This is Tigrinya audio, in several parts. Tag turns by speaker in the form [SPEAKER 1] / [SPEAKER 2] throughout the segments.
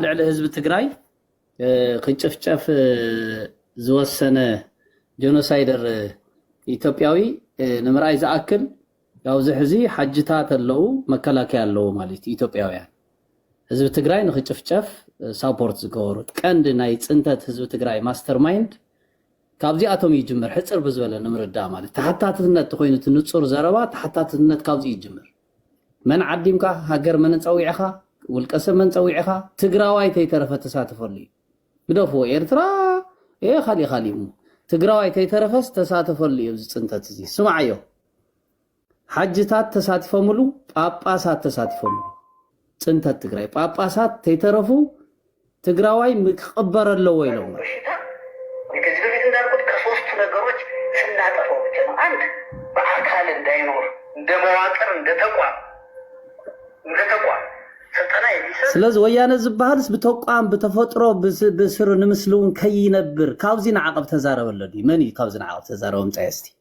[SPEAKER 1] ልዕሊ ህዝቢ ትግራይ ክጭፍጨፍ ዝወሰነ ጀኖሳይደር ኢትዮጵያዊ ንምርኣይ ዝኣክል ኣብዚ ሕዚ ሓጅታት ኣለዉ መከላከያ ኣለዎ ማለት እዩ ኢትዮጵያውያን ህዝቢ ትግራይ ንክጭፍጨፍ ሳፖርት ዝገበሩ ቀንዲ ናይ ፅንተት ህዝቢ ትግራይ ማስተር ማይንድ ካብዚኣቶም ይጅምር ሕፅር ብዝበለ ንምርዳእ ማለት ተሓታትነት ኮይኑ እቲ ንፁር ዘረባ ተሓታትነት ካብዚ ይጅምር መን ዓዲምካ ሃገር መን ጸዊዕኻ ውልቀ ሰብ መን ጸዊዕኻ ትግራዋይ ተይተረፈ ተሳተፈሉ እዩ ግደፍዎ ኤርትራ ኤ ካሊእ ካሊእ እሞ ትግራዋይ ተይተረፈስ ተሳተፈሉ እዩ እዚ ጽንተት እዚ ስምዓዮ ሓጅታት ተሳቲፎምሉ ጳጳሳት ተሳቲፎምሉ ፅንተት ትግራይ ጳጳሳት ተይተረፉ ትግራዋይ ክቅበር ኣለዎ ኢሎም እዮም። በሽታ እኔ
[SPEAKER 2] ከዚህ በፊት እንዳልኩት ከሶስቱ ነገሮች ስናጠፋው ብቻ ነው። አንድ በአካል እንዳይኖር እንደ መዋቅር እንደ ተቋም እንደ ተቋም
[SPEAKER 1] ስልጠና የሚሰጥ ስለዚ ወያነ ዝበሃልስ ብተቋም ብተፈጥሮ ብስ- ብስሩ ንምስሊ እውን ከይነብር ካብዚ ንዓቐብ ተዛረበለኒ መን እዩ ካብዚ ንዓቐብ ተዛረበ ምፃይ እስቲ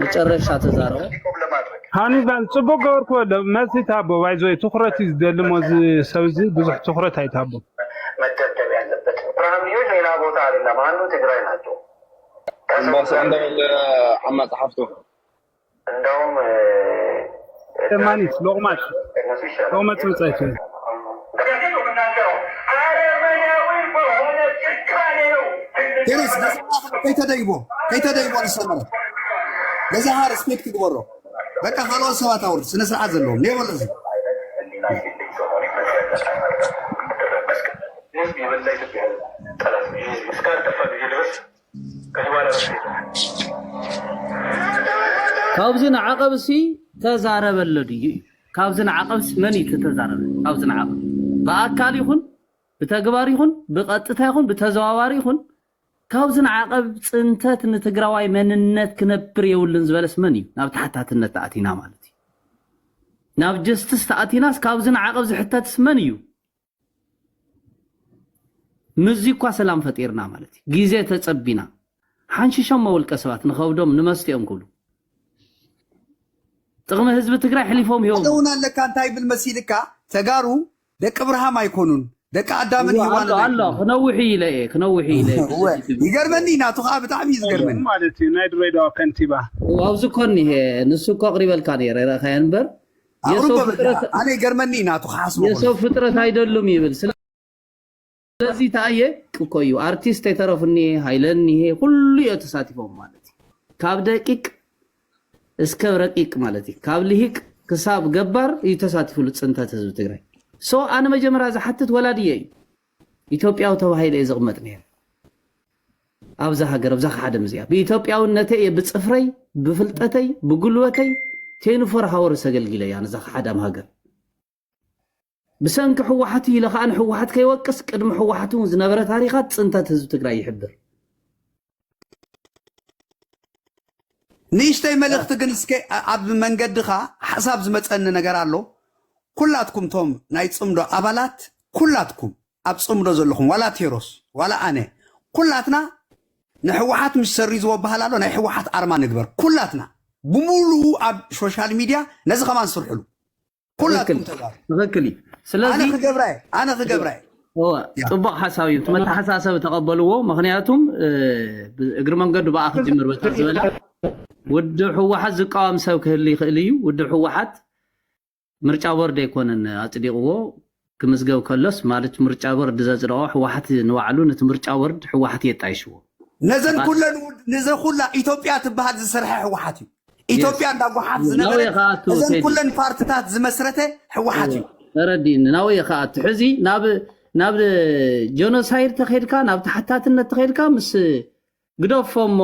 [SPEAKER 1] መጨረሻ ተዛረቡ። ሃኒባል
[SPEAKER 3] ጽቡቅ ገበርክዎ ዶ መልሲ ታቦ ባይዞ ትኩረት እዩ ዝደሊ እሞ እዚ ሰብ እዚ ብዙሕ ትኩረት ኣይታቦ መደብደብ
[SPEAKER 2] ያለበት ብርሃን ልጆች ሌላ ቦታ አይደለም አንዱ ትግራይ ናቸው ከሰው ጋር
[SPEAKER 4] አምባሳደር አማጽሐፍቶ እንደውም
[SPEAKER 3] ለማኒት ሎቕማጽ ሎቕመጽ ብጸይቲ። ቴሬስ
[SPEAKER 5] ነዚ ኣኽሎ ከይተደይቦ ከይተደይቦ ንሰመረ ነዚ ሃ ሪስፔክት ይግበሮ በቃ ካልኦት ሰባት ኣውርድ ስነ ስርዓት ዘለዎም ኔበሎ እዚ
[SPEAKER 1] ካብዚ ንዓቐብሲ ተዛረበለ ድዩ እዩ ካብዚ ንዓቐብሲ መን እዩ ተተዛረበ ካብዚ ንዓቐብ ብኣካል ይኹን ብተግባር ይኹን ብቐጥታ ይኹን ብተዘዋዋሪ ይኹን ካብዚ ንዓቐብ ፅንተት ንትግራዋይ መንነት ክነብር የብሉን ዝበለስ መን እዩ ናብ ተሓታትነት ተኣቲና ማለት እዩ ናብ ጀስትስ ተኣቲናስ ካብዚ ንዓቐብ ዝሕተትስ መን እዩ ምስዚ እኳ ሰላም ፈጢርና ማለት እዩ ግዜ ተጸቢና ሓንሽሾሞ ውልቀ ሰባት ንኸብዶም ንመስትኦም ክብሉ ጥቕሚ ህዝቢ ትግራይ ሕሊፎም ሂቦም እውን ኣለካ እንታይ ይብል
[SPEAKER 5] መሲልካ ተጋሩ ደቂ ብርሃም ኣይኮኑን ደቂ ኣዳምን እዋ፣ ኣሎ ሂዋንን ኣሎ ኣይኮኑን ክነውሕ
[SPEAKER 1] እዩ ኢለ እየ ክነውሕ እዩ ኢለ እየ እወ ብስቲ ትብል ይገርመኒ
[SPEAKER 5] ናቱ ከዓ ብጣዕሚ እዩ ኣሎ ዝገርመኒ ማለት እዩ ናይ ድሬዳዋ
[SPEAKER 3] ከንቲባ እው ኣብዚ እኮ እኒሀ
[SPEAKER 1] ንሱ እኮ ኣቕሪበልካ ነይረ ረእኻዮ እምበር የሰው ፍጥረት
[SPEAKER 5] ኣነ ይገርመኒ ናቱ ክሓስቦ የሰው ፍጥረት ኣይደሉም
[SPEAKER 1] ይብል ስለዚ ተኣየ እኮ እዩ ኣርቲስት የተረፉ እኒሄ ሃይለ እኒሄ ኩሉ እዮ ተሳቲፎም ማለት እዩ ካብ ደቂቅ እስከ ረቂቅ ማለት እዩ ካብ ልሂቅ ክሳብ ገባር እዩ ተሳቲፍሉ ፅንተት ህዝቢ ትግራይ ሶ ኣነ መጀመርያ ዝሓትት ወላድየ እዩ ኢትዮጵያዊ ተባሂለ እየ ዝቕመጥ ነይረ ኣብዛ ሃገር ኣብዛ ከዓደም እዚኣ ብኢትዮጵያውነተይ እየ ብፅፍረይ ብፍልጠተይ ብጉልበተይ ቴንፎር ሃወርስ ኣገልጊለ እያ ነዛ ከዓዳም ሃገር ብሰንኪ ሕወሓት ኢለ ከዓ ንሕወሓት ከይወቅስ ቅድሚ ሕወሓት እውን ዝነበረ ታሪኻት ፅንተት ህዝቢ ትግራይ ይሕብር
[SPEAKER 5] ንእሽተይ መልእኽቲ ግን እስከ ኣብ መንገድኻ ሓሳብ ዝመፀኒ ነገር ኣሎ ኩላትኩም ቶም ናይ ፅምዶ ኣባላት ኩላትኩም ኣብ ፅምዶ ዘለኹም ዋላ ቴሮስ ዋላ ኣነ ኩላትና ንሕወሓት ምስ ሰሪዝዎ በሃል ኣሎ ናይ ሕወሓት ኣርማ ንግበር ኩላትና ብሙሉ ኣብ ሶሻል ሚድያ ነዚ ከማን ስርሕሉ ኩላትኩም ተጋሩ ትክክል እዩ
[SPEAKER 1] ኣነ ስለዚ ክገብራ እየ ኣነ
[SPEAKER 5] ክገብራ እየ እወ፣ ያ ፅቡቅ
[SPEAKER 1] ሓሳብ እዩ እቲ መተሓሳሰቢ ተቀበልዎ ምክንያቱም እ፣ ብ- እግሪ መንገዱ ብኣ ክጅምር በታ ዝበለ ውድብ ህወሓት ዝቃወም ሰብ ክህሊ ይኽእል እዩ ውድብ ህወሓት ምርጫ ቦርድ ኣይኮነን ኣፅዲቕዎ ክምዝገብ ከሎስ ማለት ምርጫ ቦርድ ዘጽደቆ ሕዋሕት ንባዕሉ ነቲ ምርጫ ቦርድ ሕዋሕት እዩ ኣጣይሽዎ። ነዘን ባስ ኩለን
[SPEAKER 5] ውድ ንዘ ኩላ ኢትዮጵያ ትብሃል ዝሰርሐ ሕዋሓት እዩ። Yes ኢትዮጵያ እንዳ ጓሓፍ ን ናውየ ዝነበረት ክኣቱ እዘን ቴዲ ኩለን ፓርትታት ዝመስረተ ሕዋሓት እወ
[SPEAKER 1] እዩ።
[SPEAKER 5] ተረዲእኒ
[SPEAKER 1] ናውየ ክኣቱ
[SPEAKER 5] ሕዚ
[SPEAKER 1] ናብ ናብ ጆኖሳይድ ተኼድካ ናብ ተሓታትነት ተኼድካ ምስ ግደፎ እሞ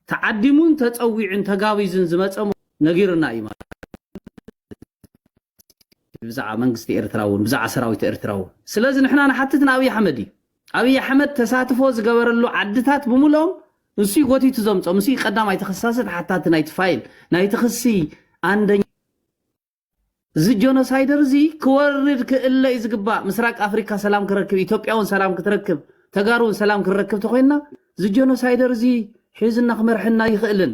[SPEAKER 1] ተዓዲሙን ተጸዊዑን ተጋቢዙን ዝመጸ ሞ ነጊሩና እዩ ማለት ብዛዕባ መንግስቲ ኤርትራ እውን ብዛዕባ ሰራዊት ኤርትራ እውን ስለዚ ንሕና ንሓትት ንኣብይ ኣሕመድ እዩ ኣብይ ኣሕመድ ተሳትፎ ዝገበረሉ ዓድታት ብምልኦም ንሱ ጎቲቱ ዘምፆ ምስ ቀዳማይ ተኸሳሲ ተሓታቲ ናይቲ ፋይል ናይቲ ክሲ ኣንደኛ እዚ ጆኖሳይደር እዚ ክወርድ ክእለ እዩ ዝግባእ ምስራቅ ኣፍሪካ ሰላም ክረክብ ኢትዮጵያ እውን ሰላም ክትረክብ ተጋሩ እውን ሰላም ክረክብ ተኮይንና እዚ ጆኖሳይደር እዚ ሒዙና ክመርሐና ይኽእልን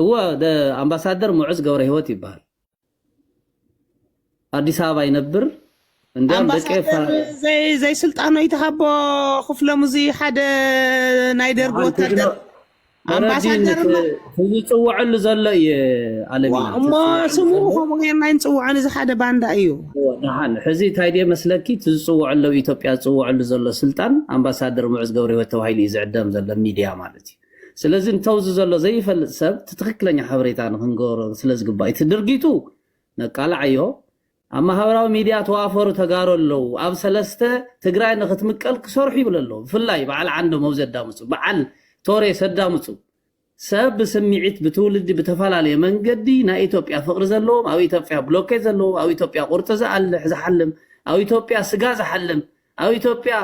[SPEAKER 1] እወ ኣምባሳደር ሙዑዝ ገብረሂወት ይበሃል ኣዲስ ኣበባ ይነብር እንዲያም ደቂ ኣምባሳደር ፋ- ዘይ
[SPEAKER 6] ዘይስልጣኖ ይትሃቦ ክፍሎም እዚ ሓደ ናይ ደርጊ ንዓን ወታደር ትግኖ ተረዲን ኣምባሳደር እሞ ህዝቢ ዝፅወዐሉ ዘሎ እየ ኣለሚና ዋ- እሞ ትፅወዐሉ ስሙ ዘሎ ከምኡ ጌርና ይንፅውዖን እዚ ሓደ ባንዳ እዩ ንሓን ሕዚ
[SPEAKER 1] እንታይ ድየ መስለኪ እቲ ዝፅወዐሉ ኣብ ኢትዮጵያ ዝፅወዐሉ ዘሎ ስልጣን ኣምባሳደር ሙዑዝ ገብረሂወት ተባሂሉ እዩ ዝዕደም ዘሎ ሚድያ ማለት እዩ ስለዚ እንተውዚ ዘሎ ዘይፈልጥ ሰብ እቲ ትክክለኛ ሓበሬታ ንክንገሮ ስለዝግባእ እዩ እቲ ድርጊቱ ነቃላዓዮ ኣብ ማህበራዊ ሚድያ ተዋፈሩ ተጋሩ ኣለው ኣብ ሰለስተ ትግራይ ንክትምቀል ክሰርሑ ይብለ ኣለዉ ብፍላይ በዓል ዓንዶ መውዚ ኣዳምፁ በዓል ቶሬ ሰዳምፁ ሰብ ብስምዒት ብትውልዲ ብተፈላለየ መንገዲ ናይ ኢትዮጵያ ፍቅሪ ዘለዎም ኣብ ኢትዮጵያ ብሎኬት ዘለዎ ኣብ ኢትዮጵያ ቁርጢ ዝኣልሕ ዝሓልም ኣብ ኢትዮጵያ ስጋ ዝሓልም ኣብ ኢትዮጵያ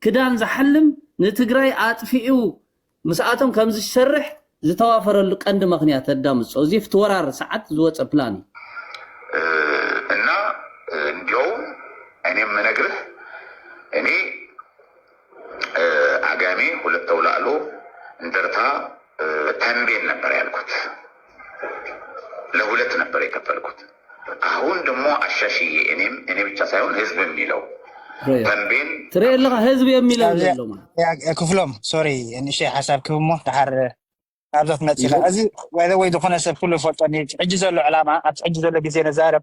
[SPEAKER 1] ክዳን ዝሓልም ንትግራይ ኣጥፊኡ ምስኣቶም ከምዝሰርሕ ዝተዋፈረሉ ቀንዲ መክንያት ኣዳምፆ እዚ ፍቲ ወራር ሰዓት ዝወፀ ፕላን እዩ።
[SPEAKER 7] እና እንዲያውም እኔ የምነግርህ እኔ አጋሜ ሁለት ተውላእሎ እንደርታ ተንቤን ነበር ያልኩት። ለሁለት ነበር የከፈልኩት አሁን ደሞ አሻሽዬ እኔም እኔ ብቻ ሳይሆን
[SPEAKER 1] ህዝብ የሚለው ተንቤን ትሬ ለኻ ህዝብ የሚለው
[SPEAKER 8] ዘሎ ክፍሎም ሶሪ ንእሽተይ ሓሳብ ክብ እሞ ድሓር ናብዛ ትመፅእ ኢኻ እዚ ወይ ዝኾነ ሰብ ኩሉ ይፈልጦ ሕጂ ዘሎ ዕላማ ኣብቲ ሕጂ ዘሎ ግዜ ነዛረብ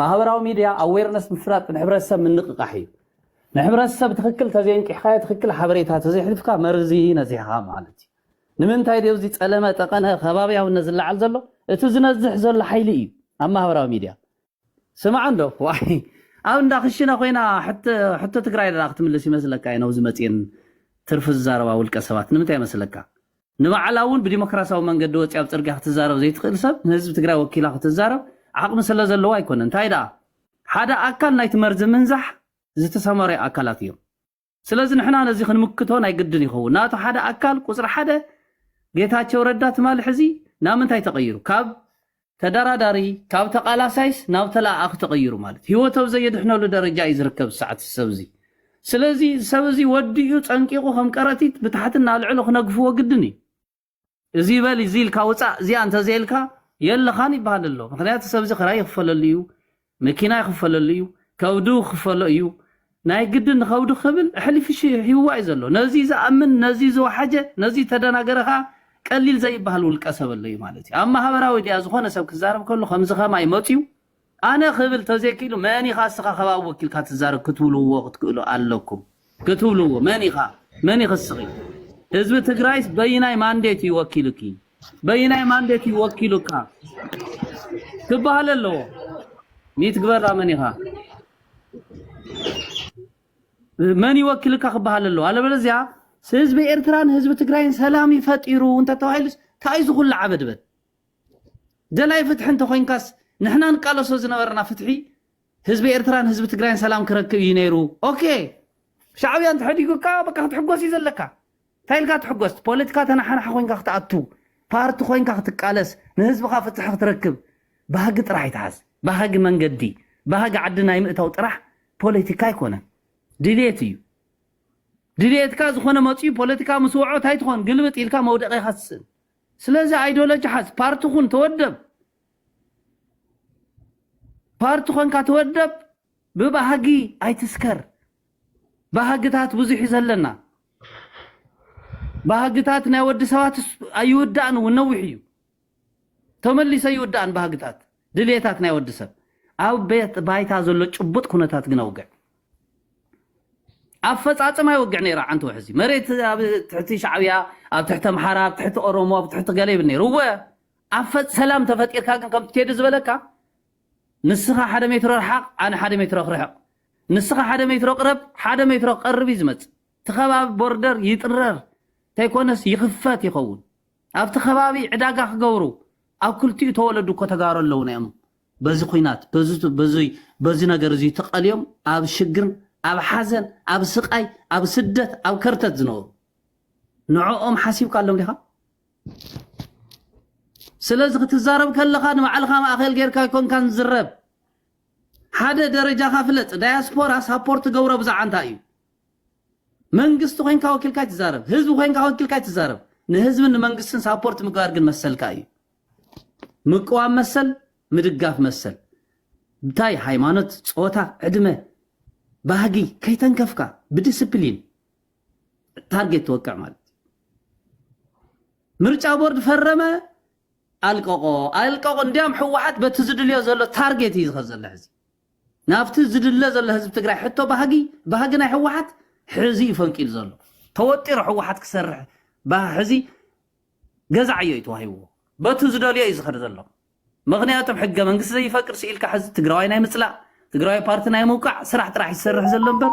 [SPEAKER 1] ማህበራዊ ሚድያ ኣዌርነስ ምፍላጥ ንሕብረተሰብ ምንቕቓሕ እዩ። ንሕብረተሰብ ትኽክል ተዘየንቂሕካዮ ትኽክል ሓበሬታ ተዘየሕሊፍካ መርዚ ነዚሕኻ ማለት እዩ። ንምንታይ ድዮ እዚ ፀለመ ጠቐነ ከባብያውነት ዝለዓል ዘሎ? እቲ ዝነዝሕ ዘሎ ሓይሊ እዩ ኣብ ማህበራዊ ሚድያ። ስማዕ እንዶ ዋይ ኣብ እንዳ ክሽነ ኮይና ሕቶ ትግራይ ደኣ ክትምልስ ይመስለካ እየ ነብዚ መፅኤን ትርፊ ዝዛረባ ውልቀ ሰባት ንምንታይ ይመስለካ ንባዕላ እውን ብዲሞክራሲያዊ መንገዲ ወፂኣ ኣብ ፅርግያ ክትዛረብ ዘይትኽእል ሰብ ንህዝቢ ትግራይ ወኪላ ክትዛረብ ዓቕሚ ስለዘለዋ ኣይኮነን። እንታይ ደኣ ሓደ ኣካል ናይቲ መርዚ ምንዛሕ ዝተሰማረዩ ኣካላት እዮም። ስለዚ ንሕና ነዚ ክንምክቶ ናይ ግድን ይኸውን። ናቱ ሓደ ኣካል ቁፅሪ ሓደ ጌታቸው ረዳ ትማሊ ሕዚ ናምንታይ ተቐይሩ? ካብ ተዳራዳሪ ካብ ተቃላሳይስ ናብ ተላኣኣኺ ተቀይሩ ማለት ሂወት ኣብ ዘየድሕነሉ ደረጃ እዩ ዝርከብ ዝሰዓት እዚ ሰብ እዚ ስለዚ እዚ ሰብ እዚ ወዲኡ ጸንቂቁ ከም ቀረቲት ብታሕቲ እናልዕሉ ክነግፍዎ ግድን እዩ እዚ ይበል እዚ ኢልካ ውጻእ እዚኣ እንተዘይልካ የለኻን ይበሃል ኣሎ ምክንያቱ ሰብዚ ክራይ ይክፈለሉ እዩ መኪና ክፈለሉ እዩ ከብዱ ክፈሎ እዩ ናይ ግድን ንኸብዱ ክብል ኣሕሊፉ ሂብዋ እዩ ዘሎ ነዚ ዝኣምን ነዚ ዝወሓጀ ነዚ ተደናገረ ከዓ ቀሊል ዘይበሃል ውልቀ ሰብ ኣሎ እዩ ማለት እዩ ኣብ ማህበራዊ ድያ ዝኾነ ሰብ ክዛረብ ከሎ ከምዚ ከማይ መፅዩ ኣነ ክብል ተዘይክኢሉ መን ኢኻ እስኻ ከባቢ ወኪልካ ትዛረብ ክትብልዎ ክትክእሉ ኣለኩም ክትብልዎ መን ኢኻ መን ኢኺ እስኺ ህዝቢ ትግራይስ በይናይ ማንዴት እዩ ወኪሉኪ በይናይ ማንዴት እዩ ወኪሉካ ክበሃል ኣለዎ ሚትግበራ መን ኢኻ መን ይወክልካ ክበሃል ኣለዎ ኣለበለዚያ ህዝቢ ኤርትራን ህዝቢ ትግራይን ሰላም ይፈጢሩ እንተተባሂሉስ እንታይ ዝኹሉ ዓበድበድ ደላይ ፍትሒ እንተኮይንካስ ንሕና ንቃለሶ ዝነበርና ፍትሒ ህዝቢ ኤርትራን ህዝቢ ትግራይን ሰላም ክረክብ እዩ ነይሩ ኦኬ ሻዕብያ እንተሐዲጉካ በቃ ክትሕጎስ እዩ ዘለካ እንታይ ኢልካ ትሕጎስ ፖለቲካ ተናሓናሓ ኮንካ ክትኣቱ ፓርቲ ኮንካ ክትቃለስ ንህዝብኻ ፍትሒ ክትረክብ ባህጊ ጥራሕ ይትሓዝ ባህጊ መንገዲ ባህጊ ዓዲ ናይ ምእታው ጥራሕ ፖለቲካ ኣይኮነን ድልየት እዩ ድልየትካ ዝኾነ መፅኡ ፖለቲካ ምስ ወዖ እንታይ ትኾን ግልብጥ ኢልካ መውደቂኻ ትስእን ስለዚ ኣይዲዮሎጂ ሓዝ ፓርቲ ኩን ተወደብ ፓርቲ ኮንካ ተወደብ ብባህጊ ኣይትስከር ባህግታት ብዙሕ ዘለና ባህግታት ናይ ወዲ ሰባት ኣይውዳእን እውን ነዊሕ እዩ ተመሊሰ ይውዳእን ባህግታት ድልየታት ናይ ወዲ ሰብ ኣብ ቤት ባይታ ዘሎ ጭቡጥ ኩነታት ግን ኣውግዕ ኣፈፃፅማ ይወግዕ ነይራ ዓንቲ ውሕዚ መሬት ኣብ ትሕቲ ሻዕብያ ኣብ ትሕቲ ኣምሓራ ኣብ ትሕቲ ኦሮሞ ኣብ ትሕቲ ገለ ይብል ነይሩ እወ ኣብ ፈጥ ሰላም ተፈጢርካ ግን ከምቲ ቴዲ ዝበለካ ንስኻ ሓደ ሜትሮ ርሓቕ ኣነ ሓደ ሜትሮ ክርሕቕ ንስኻ ሓደ ሜትሮ ቅረብ ሓደ ሜትሮ ክቀርብ እዩ ዝመጽእ እቲ ከባቢ ቦርደር ይጥረር ተይኮነስ ይኽፈት ይኸውን ኣብቲ ከባቢ ዕዳጋ ክገብሩ ኣብ ክልቲኡ ተወለዱ እኮ ተጋሩ ኣለውና እዮም በዚ ኩናት በዚ ነገር እዚ ተቐልዮም ኣብ ሽግር ኣብ ሓዘን ኣብ ስቃይ ኣብ ስደት ኣብ ከርተት ዝነበሩ ንዕኦም ሓሲብካሎም ዲኻ ስለዚ ክትዛረብ ከለኻ ንባዕልኻ ማእኸል ጌርካ ኣይኮንካን ዝረብ ሓደ ደረጃኻ ፍለጥ ዳያስፖራ ሳፖርት ትገብሮ ብዛዕባ እንታይ እዩ መንግስቲ ኮንካ ወኪልካ ይትዛረብ ህዝቢ ኮንካ ወኪልካ ይትዛረብ ንህዝብን ንመንግስትን ሳፖርት ምግባር ግን መሰልካ እዩ ምቅዋም መሰል ምድጋፍ መሰል እንታይ ሃይማኖት ፆታ ዕድመ ባህጊ ከይተንከፍካ ብዲስፕሊን ታርጌት ትወቅዕ ማለት እዩ። ምርጫ ቦርድ ፈረመ ኣልቀቆ ኣልቀቆ እንዲያም ሕወሓት በቲ ዝድልዮ ዘሎ ታርጌት እዩ ዝኸ ዘሎ ሕዚ ናብቲ ዝድለ ዘሎ ህዝቢ ትግራይ ሕቶ ባህጊ ባህጊ ናይ ሕወሓት ሕዚ እዩ ፈንቂሉ ዘሎ ተወጢሩ ሕወሓት ክሰርሕ ሕዚ ገዛዕ እዩ ተዋሂብዎ በቱ ዝደልዮ እዩ ዝኸደ ዘሎ ምኽንያቱም ሕገ መንግስቲ ዘይፈቅድ ስኢልካ ሕዚ ትግራዋይ ናይ ምፅላእ ትግራዋይ ፓርቲ ናይ ምውቃዕ ስራሕ ጥራሕ እዩ ዝሰርሕ ዘሎ እምበር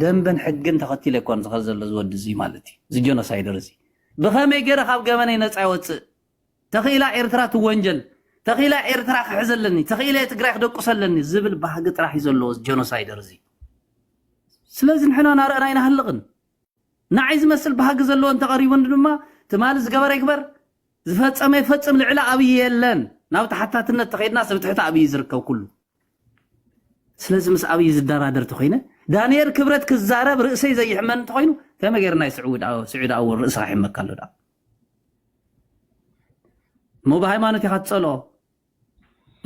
[SPEAKER 1] ደንብን ሕግን ተኸቲለ ኣይኮን ዝኸድ ዘሎ እዚ ወዲ እዙይ ማለት እዩ እዚ ጀኖሳይደር እዚ ብኸመይ ገይረ ካብ ገበነይ ነፃ ይወፅእ ተኽኢላ ኤርትራ ትወንጀል ተኽኢላ ኤርትራ ክሕዘለኒ ተኽኢለ ትግራይ ክደቁሰለኒ ዝብል ባህጊ ጥራሕ እዩ ዘለዎ ጀኖሳይደር እዚ ስለዚ ንሕና ናርእና ኣይናሃልቕን ንዓይ ዝመስል ባህጊ ዘለዎ እንተቐሪቡን ድማ ትማሊ ዝገበረ ይግበር ዝፈጸመ ይፈጽም ልዕሊ ኣብይ የለን ናብ ተሓታትነት ተኸይድናስ ኣብ ትሕቲ ኣብይ ዝርከብ ኩሉ ስለዚ ምስ ኣብይ ዝደራደር ተኾይነ ዳንኤል ክብረት ክዛረብ ርእሰይ ዘይሕመን እንተኾይኑ ከመይ ገይረ ናይ ስዑድ ኣወል ርእስኻ ይሕመካ ኣሎ ዳ እሞ ብሃይማኖት ኢኻ ትጸልኦ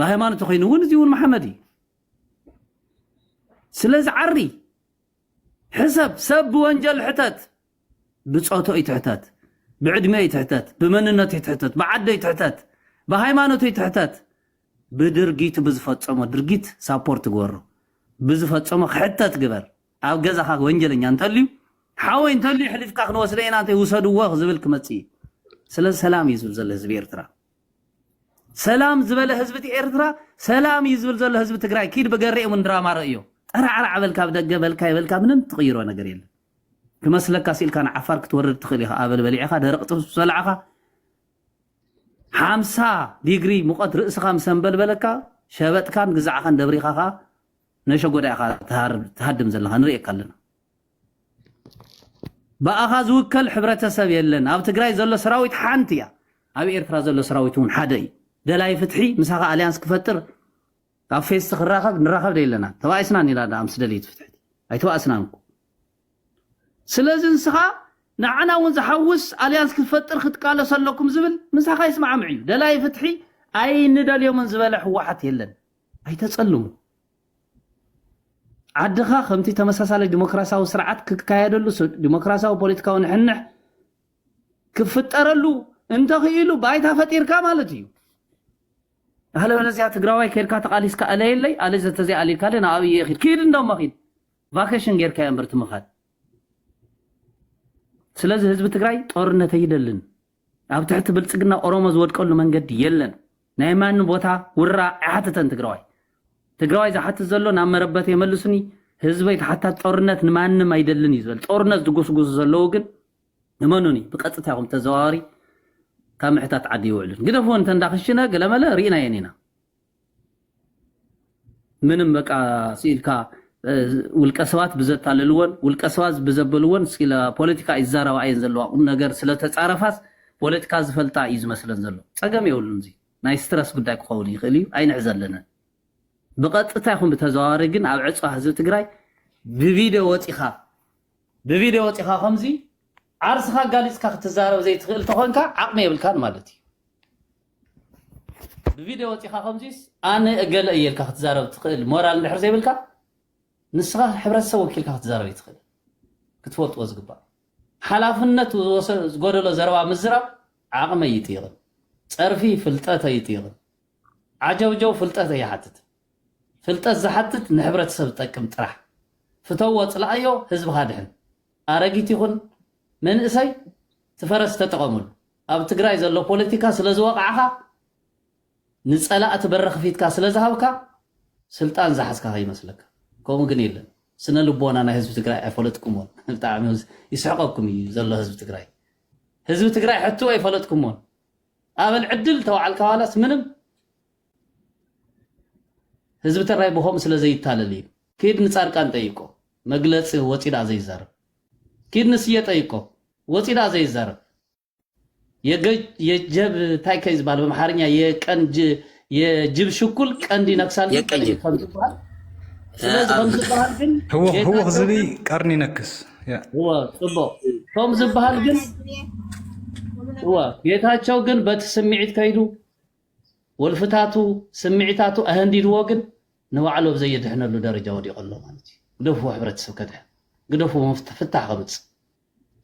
[SPEAKER 1] ብሃይማኖት ኮይኑ እውን እዚ እውን መሓመድ እዩ ስለዚ ዓሪ ሕሰብ ሰብ ብወንጀል ሕተት ብጾቶ ይትሕተት፣ ብዕድሜ ይትሕተት፣ ብመንነቱ ይትሕተት፣ ብዓዱ ይትሕተት፣ ብሃይማኖቱ ይትሕተት፣ ብድርጊቱ ብዝፈጸሞ ድርጊት ሳፖርት ግበሮ፣ ብዝፈጸሞ ክሕተት ግበር፣ ኣብ ገዛኻ ወንጀለኛ እንተልዩ ሓወይ እንተልዩ የሕሊፍካ ክንወስደ ኢና እንተ ውሰድዎ ዝብል ክመጽእ እዩ። ስለዚ ሰላም እዩ ዝብል ዘሎ ህዝቢ ኤርትራ። ሰላም ዝበለ ህዝቢ እቲ ኤርትራ ሰላም እዩ ዝብል ዘሎ ህዝቢ ትግራይ ኪድ ብገሬ እውን ድራማ ረእዮ ጠራዕራዕ በልካ ብደገ በልካ ይበልካ ምንም ትቕይሮ ነገር የለን ክመስለካ ሲእልካ ንዓፋር ክትወርድ ትኽእል ኢኻ ኣበል በሊዕኻ ደረቕ ጥብስ ምስ በላዕኻ ሓምሳ ዲግሪ ሙቐት ርእስኻ ምስ ኣንበልበለካ ሸበጥካን ግዛዕኻን ደብሪኻ ኸኣ ነሸጎዳ ኢኻ ትሃድም ዘለኻ ንርእየካ ኣለና ብኣኻ ዝውከል ሕብረተሰብ የለን ኣብ ትግራይ ዘሎ ሰራዊት ሓንቲ እያ ኣብ ኤርትራ ዘሎ ሰራዊት እውን ሓደ እዩ ደላይ ፍትሒ ምሳኻ ኣልያንስ ክፈጥር ኣብ ፌስቲ ክራኸብ ንራኸብ ደይለና ተባኢስና ኒላ ዳኣ ምስ ደልይት ፍትሕቲ ኣይተባእስናን እኮ ስለዚ ንስኻ ንዓና እውን ዝሓውስ ኣልያንስ ክትፈጥር ክትቃለሱ ኣለኩም ዝብል ምሳኻ ይስማዕምዕ እዩ ደላይ ፍትሒ ኣይንደልዮምን ዝበለ ሕወሓት የለን ኣይተጸልሙ ዓድኻ ከምቲ ተመሳሳሊ ዲሞክራሲያዊ ስርዓት ክካየደሉ ዲሞክራሲያዊ ፖለቲካዊ ንሕንሕ ክፍጠረሉ እንተኽኢሉ ባይታ ፈጢርካ ማለት እዩ ኣለበለዚያ ትግራዋይ ከድካ ተቃሊስካ ኣለየለይ ኣለ ዘተዘይ ኣልካ ደ ንኣብይ እየ ኪድ ኪድ እንደሞ ኪድ ቫኬሽን ጌርካዮ እምበር ትምኻድ ስለዚ ህዝቢ ትግራይ ጦርነት ኣይደልን ኣብ ትሕቲ ብልፅግና ኦሮሞ ዝወድቀሉ መንገዲ የለን ናይ ማን ቦታ ውራ ኣይሓትተን ትግራዋይ ትግራዋይ ዝሓትት ዘሎ ናብ መረበት የመልሱኒ ህዝበይ ተሓታት ጦርነት ንማንም ኣይደልን እዩ ዝበል ጦርነት ዝጉስጉሱ ዘለዉ ግን እመኑኒ ብቀጥታ ይኹን ብተዘዋዋሪ ካብ ምሕታት ዓዲ ይውዕሉን ግደፍ እውን ተንዳክሽነ ገለመለ ርኢናየን ኢና ምንም በቃ ስኢልካ ውልቀ ሰባት ብዘታለልዎን ውልቀ ሰባት ብዘበልዎን ስለ ፖለቲካ ይዛረባ እየን ዘለዋ ቁም ነገር ስለተፃረፋስ ፖለቲካ ዝፈልጣ እዩ ዝመስለን ዘሎ ፀገም የብሉን እዚ ናይ ስትረስ ጉዳይ ክኸውን ይኽእል እዩ ኣይንሕ ዘለነን ብቐጥታ ይኹን ብተዘዋዋሪ ግን ኣብ ዕፅዋ ህዝቢ ትግራይ ብቪድዮ ወፂኻ ብቪድዮ ወጺኻ ከምዚ ዓርስኻ ኣጋሊጽካ ክትዛረብ ዘይትኽእል ተኾንካ ዓቕሚ የብልካን ማለት እዩ። ብቪድዮ ወጺኻ ከምዚስ ኣነ እገለ እየ ኢልካ ክትዛረብ ትኽእል ሞራል እንድሕር ዘይብልካ ንስኻ ሕብረተሰብ ወኪልካ ክትዛረብ ይትኽእል ክትፈልጥዎ ዝግባእ ሓላፍነት ዝጎደሎ ዘረባ ምዝራብ ዓቕመ ይጥይቕን ፀርፊ ፍልጠት ኣይጥይቕን ዓጀውጀው ፍልጠት ኣይሓትትን ፍልጠት ዝሓትት ንሕብረተሰብ ዝጠቅም ጥራሕ ፍተዎ ጽላኣዮ ህዝብኻ ድሕን። ኣረጊት ይኹን መንእሰይ እቲ ፈረስ ተጠቐሙሉ። ኣብ ትግራይ ዘሎ ፖለቲካ ስለ ዝወቓዕኻ ንጸላእቲ በሪ ክፊትካ ስለ ዝሃብካ ስልጣን ዝሓዝካ ከይመስለካ። ከምኡ ግን የለን። ስነ ልቦና ናይ ህዝቢ ትግራይ ኣይፈለጥኩሞን። ብጣዕሚ ይስሕቐኩም እዩ ዘሎ ህዝቢ ትግራይ። ህዝቢ ትግራይ ሕቱ ኣይፈለጥኩሞን። ኣበል ዕድል ተባዕልካ ዋላስ ምንም ህዝቢ ተራይ ብኸምኡ ስለ ዘይታለል እዩ። ኪድ ንጻድቃን ጠይቆ መግለጺ ወጺ ድኣ ዘይዛረብ ኪድ ንስየ ጠይቆ ወጺ ድኣ ዘይዛረብ የገጅ የጀብ ታይ ከይ ዝበሃል በምሓርኛ የቀንጅ የጅብ ሽኩል ቀንድ ይነክሳል ግን ቀንድ የቀጅብ ከም ዝበሃል ስለዚ ከም ኣብ ዝበሃል ግን ህውኽ ህውኽ ጌታቸው
[SPEAKER 9] ዝብኢ ግን ቀርኒ ይነክስ ያ እወ
[SPEAKER 1] ጽቡቅ ከም ዝበሃል ግን እወ ጌታቸው ግን በቲ ስምዒት ከይዱ ወልፍታቱ ስምዒታቱ ኣሀንዲድዎ ግን ንባዕሉ ኣብ ዘየድሕነሉ ደረጃ ወዲቁ ኣሎ ማለት እዩ ግደፍዎ ሕብረተሰብ ከድሕን ግደፍዎ መፍትሒ ፍታሕ ከምጽእ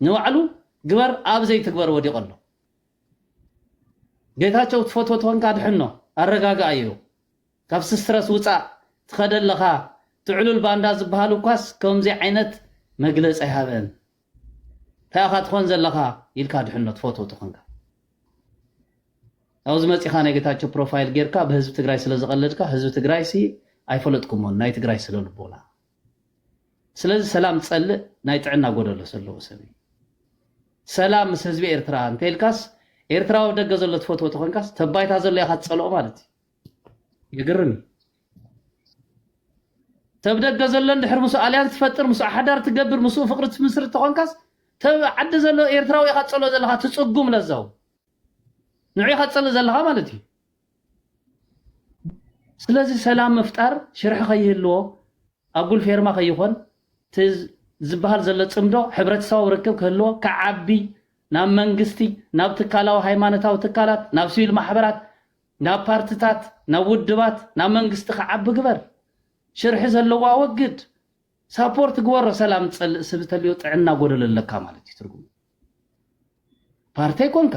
[SPEAKER 1] ንባዕሉ ግበር ኣብ ዘይትግበር ወዲቁ ኣሎ ጌታቸው ትፈትዎ ተኾንካ ድሕኖ ኣረጋግኣዮ ካብ ስትረስ ውፃእ ትኸደ ኣለኻ ትዕሉል ባንዳ ዝበሃል እኳስ ከምዚ ዓይነት መግለፂ ኣይሃበን ታይ ኢኻ ትኾን ዘለኻ ኢልካ ድሕኖ ትፈትዎ ተኾንካ ኣብዚ መፂኻ ናይ ጌታቸው ፕሮፋይል ጌርካ ብህዝቢ ትግራይ ስለዝቐለድካ ህዝቢ ትግራይሲ ኣይፈለጥኩሞን ናይ ትግራይ ስለልቦና ስለዚ ሰላም ዝፀልእ ናይ ጥዕና ጎደሎ ዘለዎ ሰብ እዩ ሰላም ምስ ህዝቢ ኤርትራ እንተልካስ ኤርትራዊ ደገ ዘሎ ትፈትዎ ተኾንካስ ተባይታ ዘሎ ኢኻ ትፀልኦ ማለት እዩ የገርም እዩ ተብ ደገ ዘሎን ድሕሪ ምስ ኣልያንስ ትፈጥር ምስ ሓዳር ትገብር ምስ ፍቅሪ ትምስርት ተኾንካስ ተብ ዓዲ ዘሎ ኤርትራዊ ኢኻ ትጸሎ ዘለኻ ትጽጉም ለዛው ንዑ ኢኻ ትጸልእ ዘለኻ ማለት እዩ ስለዚ ሰላም ምፍጣር ሽርሒ ከይህልዎ ኣጉል ፌርማ ከይኾን ዝበሃል ዘሎ ጽምዶ ሕብረተሰባዊ ርክብ ክህልዎ ክዓቢ ናብ መንግስቲ ናብ ትካላዊ ሃይማኖታዊ ትካላት ናብ ሲቪል ማሕበራት ናብ ፓርትታት ናብ ውድባት ናብ መንግስቲ ክዓቢ ግበር ሽርሒ ዘለዎ ኣወግድ ሳፖርት ግበሮ ሰላም ዝጸልእ ስብ ተልዮ ጥዕና ጎደሎ ኣለካ ማለት እዩ ትርጉሙ ፓርቲ ኣይኮንካ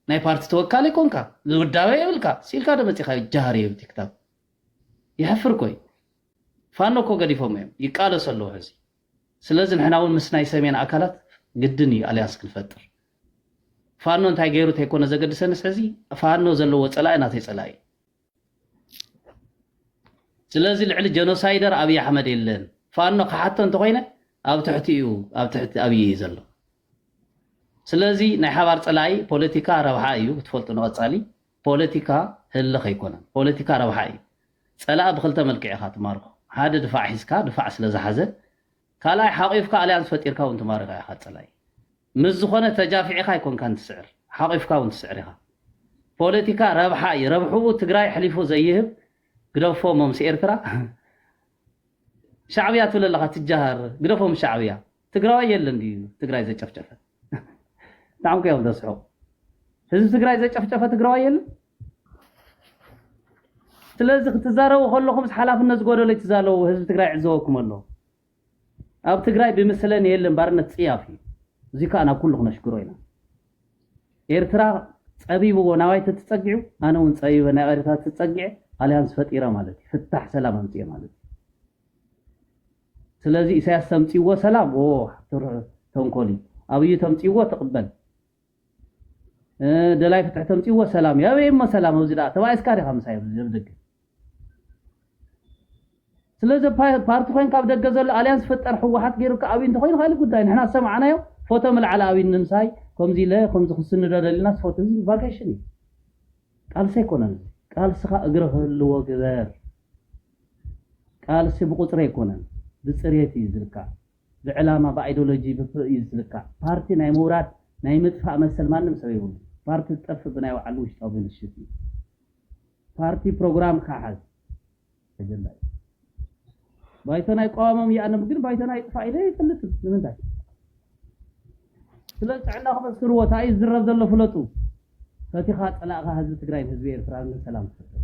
[SPEAKER 1] ናይ ፓርቲ ተወካሊ ኣይኮንካ ዝውዳበ የብልካ ሲልካ ዶ መጺኻዮ ጃሃር የብ ቲክታብ ይሕፍር ኮይ ፋኖ እኮ ገዲፎም እዮም ይቃለሱ ኣለዉ ሕዚ ስለዚ ንሕና እውን ምስ ናይ ሰሜን ኣካላት ግድን እዩ ኣልያንስ ክንፈጥር ፋኖ እንታይ ገይሩ ተይኮነ ዘገድሰንስ ሕዚ ፋኖ ዘለዎ ፀላኢ ናተይ ፀላኢ እዩ ስለዚ ልዕሊ ጀኖሳይደር ኣብዪ ኣሕመድ የለን ፋኖ ክሓቶ እንተኮይነ ኣብ ትሕቲ እዩ ኣብ ትሕቲ ኣብዪ እዩ ዘሎ ስለዚ ናይ ሓባር ፀላኢ ፖለቲካ ረብሓ እዩ ክትፈልጡ ንቐፃሊ ፖለቲካ ህልኽ ኣይኮነን ፖለቲካ ረብሓ እዩ ፀላኢ ብክልተ መልክዕ ኢኻ ትማርኮ ሓደ ድፋዕ ሒዝካ ድፋዕ ስለ ዝሓዘ ካልኣይ ሓቂፍካ ኣልያንስ ፈጢርካ ውን ትማርካ ኢካ ጸላኢ ምስ ዝኮነ ተጃፊዒካ ኣይኮንካን ትስዕር ሓቂፍካ ውን ትስዕር ኢካ ፖለቲካ ረብሓ እዩ ረብሕኡ ትግራይ ኣሕሊፉ ዘይህብ ግደፎ እሞ ምስ ኤርትራ ሻዕብያ ትብል ኣለካ ትጃሃር ግደፎ ምስ ሻዕብያ ትግራዋይ የለን ድዩ ትግራይ ዘጨፍጨፈት ብጣዕሚ እኮ እዮም ዘስሕቁ። ህዝቢ ትግራይ ዘጨፍጨፈ ትግራዋይ የለን። ስለዚ ክትዛረቡ ከለኹም ሓላፍነት ዝጎደሎ ይትዛለቡ ህዝቢ ትግራይ ዕዘበኩም ኣሎ ኣብ ትግራይ ብምስለን የለን ባርነት ፅያፍ እዩ እዚ ከዓ ናብ ኩሉ ክነሽግሮ ኢና ኤርትራ ፀቢብዎ ናባይ ተትፀጊዑ ኣነ እውን ፀቢበ ናብ ኤርትራ ተፀጊዐ ኣሊያንስ ፈጢረ ማለት እዩ ፍታሕ ሰላም ኣምፅኤ ማለት እዩ ስለዚ ኢሳያስ ተምጺዎ ሰላም ኦ ተንኮል እዩ ኣብዩ ተምጺዎ ትቕበል ደላይ ፍትሒ ተምጺዎ ሰላም እዩ ኣበይ እሞ ሰላም ኣብዚ ደኣ ተባኢስካ ዲኻ ምሳይ ኣብ ደገ ስለዚ ፓርቲ ኮይን ካብ ደገ ዘሎ ኣልያንስ ፍጠር ሕወሓት ገይሩካ ኣብይ እንተኮይኑ ካልእ ጉዳይ ንሕና ዝሰማዕናዮ ፎቶ ምልዓል ኣብይ ንምሳይ ከምዚ ኢለ ከምዚ ክስንዶ ደሊና ፎቶ እዚ ቫኬሽን እዩ ቃልሲ ኣይኮነን ቃልስኻ እግሪ ክህልዎ ግበር ቃልሲ ብቁፅሪ ኣይኮነን ብፅሬት እዩ ዝልካዕ ብዕላማ ብኣይዶሎጂ ብፕእ እዩ ዝልካዕ ፓርቲ ናይ ምውራድ ናይ ምጥፋእ መሰል ማንም ሰብ የብሉን ፓርቲ ዝጠፍእ ብናይ ባዕሉ ውሽጣዊ ብልሽት እዩ ፓርቲ ፕሮግራም ካሓዝ ኣጀንዳ እዩ ባይቶና ይቋወሞም ይኣንም ግን ባይቶና ይጥፋእ ኢለ ኣይፈልጥን ንምንታይ ስለ ጥዕና ክመስክርዎ እንታይ እዩ ዝዝረብ ዘሎ ፍለጡ ፈቲኻ ፀላእኻ ህዝቢ ትግራይን ህዝቢ ኤርትራን ሰላም ትፈጥር